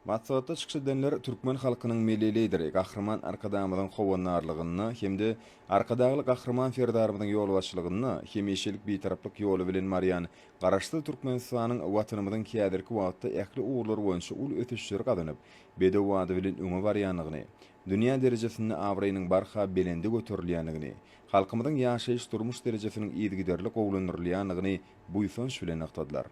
Maslahatda çykyş edenler türkmen halkynyň Milli Lideri Gahryman Arkadagymyzyň howandarlygynda hem-de Arkadagly Gahryman Serdarymyzyň ýolbaşçylygynda hemişelik Bitaraplyk ýoly bilen barýan Garaşsyz Türkmenistanyň Watanymyzyň häzirki wagtda ähli ugurlar boýunça uly ösüşleri gazanyp, bedew bady bilen öňe barýandygyny, dünýä derejesinde abraýynyň barha belende göterilýändigini, halkymyzyň ýaşaýyş-durmuş derejesiniň yzygiderli gowulandyrylýandygyny buýsanç bilen nygtadylar.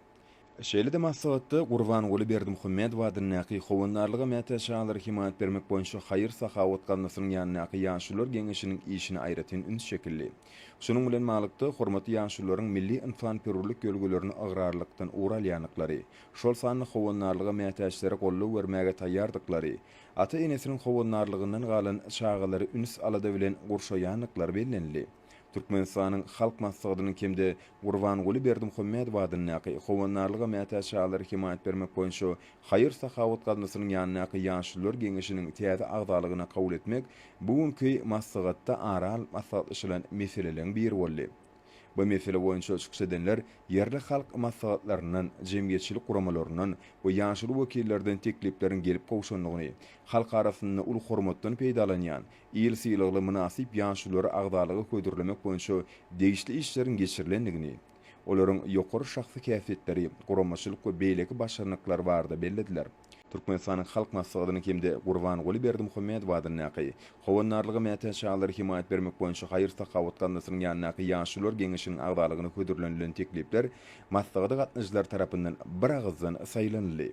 Şeýle-de maslahatda Gurbanguly Berdimuhamedow adyndaky Howandarlyga mätäç çagalara hemaýat bermek boýunça haýyr-sahawat gaznasynyň ýanyndaky Ýaşulular geňeşiniň işine aýratyn üns çekildi. Şunuň bilen baglykda, hormatly ýaşulularyň milli ynsanperwerlik ýörgülerini ygrarlylykdan ugur alýandyklary, şol sanda Howandarlyga mätäçlere goldaw bermäge taýýardyklary, ata-enesiniň howandarlygyndan galan çagalary üns-alada bilen gurşaýandyklary bellenildi. Türkmenistanyň Halk Maslahatynyň hem-de Gurbanguly Berdimuhamedow adyndaky Howandarlyga mätäç çagalara hemaýat bermek boýunça haýyr-sahawat gaznasynyň ýanyndaky Ýaşulular geňeşiniň täze agzalygyna kabul etmek bu günki maslahatda ara alyp maslahatlaşylan meseleleriň biri boldy. Bu mesele boýunça çykyş edenler ýerli halk maslahatlaryndan, jemgyýetçilik guramalaryndan we ýaşuly wekillerden teklipleriň gelip gowşandygyny, halk arasynda uly hormatdan peýdalanýan, Il sylagly mynasyp ýaşululary agzalyga hödürlemek boýunça degişli işleriň geçirilendigini, olaryň ýokary şahsy häsiýetleri, guramaçylyk we beýleki başarnyklary barada bellediler. Türkmenistanyň Halk Maslahatynyň hem-de Gurbanguly Berdimuhamedow adyndaky Howandarlyga mätäç çagalara hemaýat bermek boýunça haýyr-sahawat gaznasynyň ýanyndaky Ýaşulular geňeşiniň agzalygyna hödürlenilen teklipler maslahata gatnaşyjylar tarapyndan biragyzdan saýlanyldy.